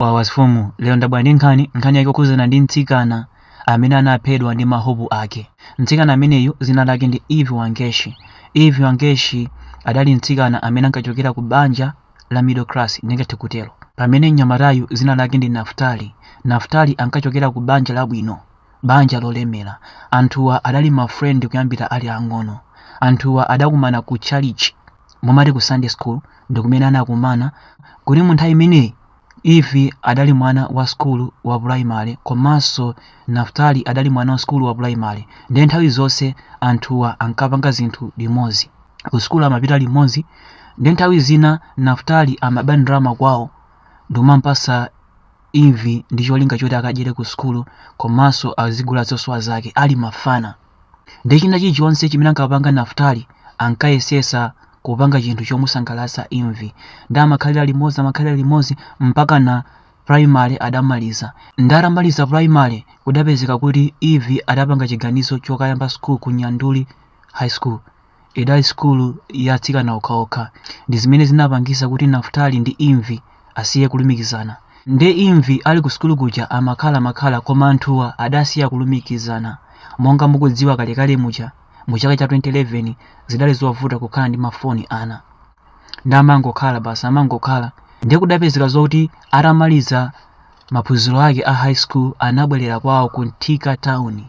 wawa sfumu lero ndabwera ndi nkhani nkhani yake okhuzana ndi mtsikana amene anaphedwa ndi mahopu ake mtsikana ameneyu dzina lake ndi eve wangechi eve wangechi adali mtsikana amene ankachokera ku banja la middle class ndingathe kutero pamene mnyamatayu dzina lake ndi naftali naftali ankachokera ku banja labwino banja lolemera anthuwa adali mafrendi kuyambira ali ang'ono anthuwa adakumana ku chalichi mumati ku Sunday school ndikumene anakumana koma munthawi imeneyi Eve adali mwana wa sukulu wa primary komanso Naftali adali mwana wa sukulu wa primary ndiye nthawi zonse anthuwa ankapanga zinthu limodzi ku sukulu amapita limodzi ndiye nthawi zina Naftali amaba ndalama kwawo ndikumamupasa Eve ndi cholinga choti akadyere ku sukulu komanso azigula zosowa zake ali mafana Ndiye china chilichonse chimene ankapanga Naftali ankayesesa kupanga chinthu chomusangalatsa Eve. Ndi amakhalira limodzi amakhalira limodzi mpaka na primary adamaliza. Ndi atamaliza primary kudapezeka kuti Eve adapanga chiganizo chokayamba school ku Nyandarua High School. idali sukulu ya atsikana okhaokha ndi zimene zinapangisa kuti naftali ndi eve asiye kulumikizana nde eve ali ku sukulu kuja amakhala amakhala koma anthuwa adasiya kulumikizana monga mukudziwa kalekale muja mu chaka cha 2011 zidali zovuta kukhala ndi mafoni ana ndi amangokhala basi amangokhala nde kudapezeka zoti atamaliza maphunziro ake a high school anabwerera kwawo ku thika town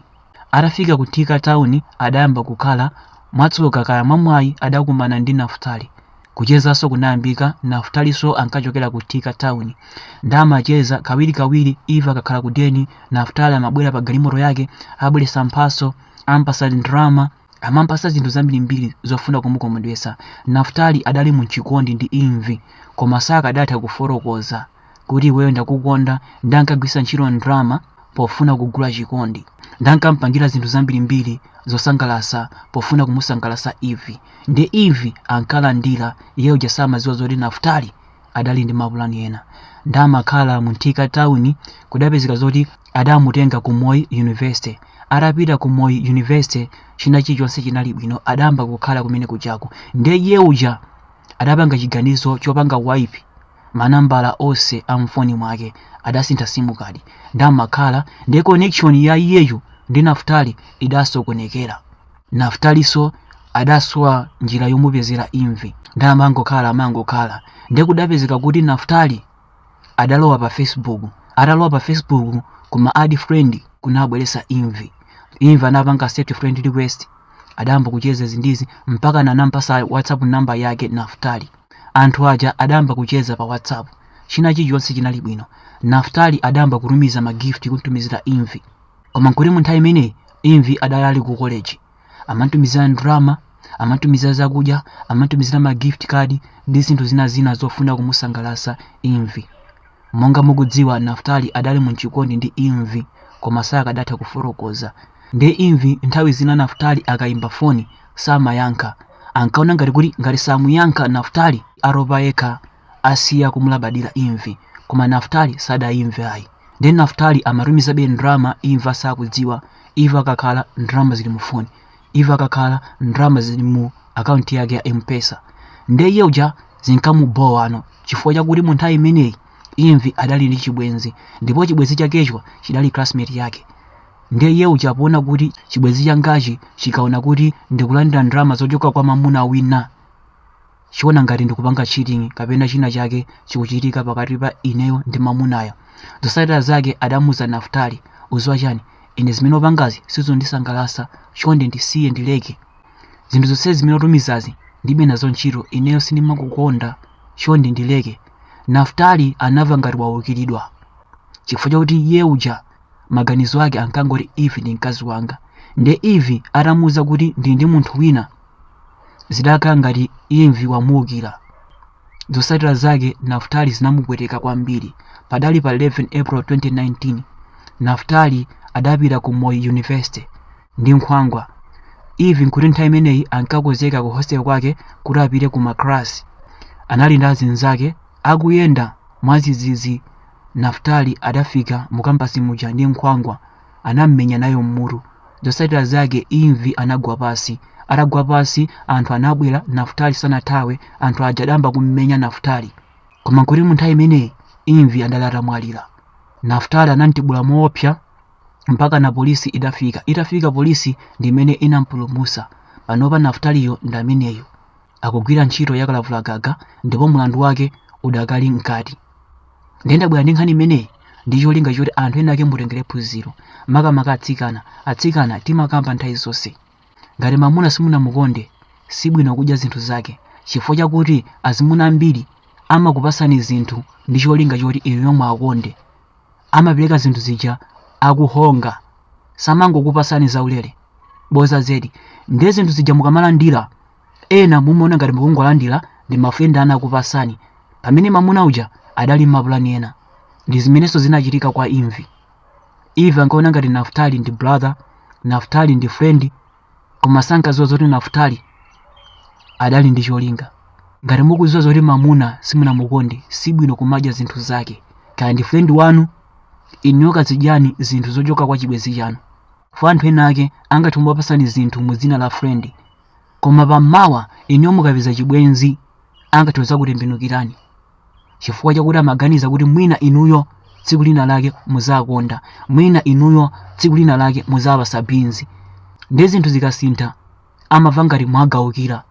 Atafika ku Thika town adayamba kukhala, mwatsoka kaya mwamwayi adakumana ndi Naftali. Kuchezaso kunayambika, Naftaliso ankachokera ku Thika town nde amacheza kawirikawiri eve akakhala ku deni Naftali amabwera pa galimoto yake abweresa mphaso, ampasa ndalama, amampasa zinthu zambirimbiri zofuna kumukomedwesa naftali adali muchikondi ndi eve koma sakadatha kufotokoza kuti iweyo ndakukonda ndankagwisa ntchito ndalama pofuna kugula chikondi ndankampangira zinthu zambirimbiri zosangalasa pofuna kumusangalasa eve ndi eve ankalandira iyeyo samadziwa zoti naftali adali ndi mapulani ena ndamakhala mu thika town kudapezeka zoti adamutenga ku moi university atapita ku moi university china chilichonse chinali bwino adayamba kukhala kumene kujaku ndiye iye uja adapanga chiganizo chopanga wipe manambala onse a mfoni mwake adasintha simu kadi ndamakhala ndiye connection ya iyeyu ndi naftali idasokonekera naftaliso adasowa njira yomupezera eve ndamangokhala amangokhala ndiye kudapezeka kuti naftali adalowa pa facebook atalowa pa facebook kuma add friend kunabweresa ivy ivy anapanga accept friend request adayamba kucheza izi ndi izi mpakana anampasa whatsapp namba yake naftali anthu aja adayamba kucheza pa whatsapp china chilichonse chinali bwino naftali adayamba kutumiza ma gift kumtumizira ivy koma nkuti mu nthawi imeneyi ivy adali ali ku college amamtumizira ndalama amamtumizira zakudya amamtumizira ma gift card ndi zinthu zina zina zofuna kumusangalatsa ivy monga mukudziwa naftali adali mu chikondi ndi ivy koma sakadatha kufotokoza nde ivy nthawi zina naftali akayimba foni samayankha ankaona ngati kuti ngati samuyankha naftali atopa yekha asiya kumulabadira ivy koma naftali sadaimve ayi ndiye naftali amatumizabe ndalama ivy asakudziwa ivy akakhala ndalama zili mu foni ivy akakhala ndalama zili mu akaunti yake ya mpesa ndiye iye uja zinkamubowano chifukwa chakuti mu nthawi imeneyi ivy adali ndi chibwenzi ndipo chibwenzi chakecho chidali classmate yake ndiye iye uja poona kuti chibwenzi changachi chikaona kuti ndikulandira ndalama zochoka kwa mamuna wina chiona ngati ndikupanga cheating kapena china chake chikuchitika pakati pa ineyo ndi mamunayo zotsatira zake adamuza naftali udziwa chani ine zimene upangazi sizondisangalasa chonde ndisiye ndileke zinthu zonse zimene utumizazi ndibe nazo ntchito ineyo sindimakukonda chonde ndileke naftali anamva ngati waukiridwa chifukwa chakuti iye uja maganizo ake ankangoti ivy ndi mkazi wanga nde ivy atamuuza kuti ndi ndi munthu wina zidakhala ngati Ivy wamuukira. Zotsatira zake Naftali zinamupweteka kwambiri. Padali pa 11 April 2019, Naftali adapita ku Moi University ndi nkhwangwa. Ivy nkuti nthawi imeneyi ankakonzeka ku hostel kwake kuti apite ku maklasi. Anali ndi azinzake akuyenda mwadzidzidzi Naftali adafika mu kampasi muja ndi nkhwangwa. anam'menya nayo m'mutu. Zotsatira zake Ivy anagwa pansi. Atagwa pansi, anthu anabwera, Naftali sanathawe, anthu aja adayamba kum'menya Naftali. Koma nkuti mu nthawi imeneyi Ivy adali atamwalira. Naftali anamtibula moopsa mpakana polisi idafika. Itafika polisi ndi imene inampulumutsa. Panopa Naftaliyo ndi ameneyo. akugwira ntchito ya kalavulagaga ndipo mlandu wake udakali mkati ndiye ndabwera ndi nkhani imeneyi ndi cholinga choti anthu ena ake mutengere phunziro makamaka atsikana atsikana timakamba nthawi zonse ngati mamuna simunamukonde sibwino kudya zinthu zake chifukwa chakuti azimuna ambiri amakupasani zinthu ndi cholinga choti inuyo muwakonde amapereka zinthu zija akuhonga samangokupasani zaulere boza zedi ndiye zinthu zija mukamalandira ena mumaona ngati mukungolandira ndi mafrendi anu akupasani pamene mamuna uja adali m'mapulani ena ndi zimenenso zinachitika kwa Ivi Ivi ankaona ngati naftali ndi brother naftali ndi friend koma sankadziwa zoti naftali adali ndi cholinga ngati mukudziwa zoti mamuna simunamukonde sibwino kumadya zinthu zake kaya ndi friend wanu inuyo kazidyani zinthu zochoka kwa chibwenzi chanu kwa anthu ena ake angathe kumapasani zinthu mu dzina la friend koma pammawa inuyo mukapeza chibwenzi angathe kudzakutembenukirani chifukwa chakuti amaganiza kuti mwina inuyo tsiku lina lake muzawakonda mwina inuyo tsiku lina lake muzawapasa binzi nde zinthu zikasintha amamva ngati mwawaukira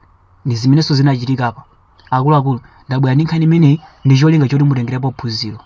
ndi zimenenso zinachitika apa akuluakulu ndabwera ndi nkhani imeneyi ndi cholinga choti mutengerepo phunziro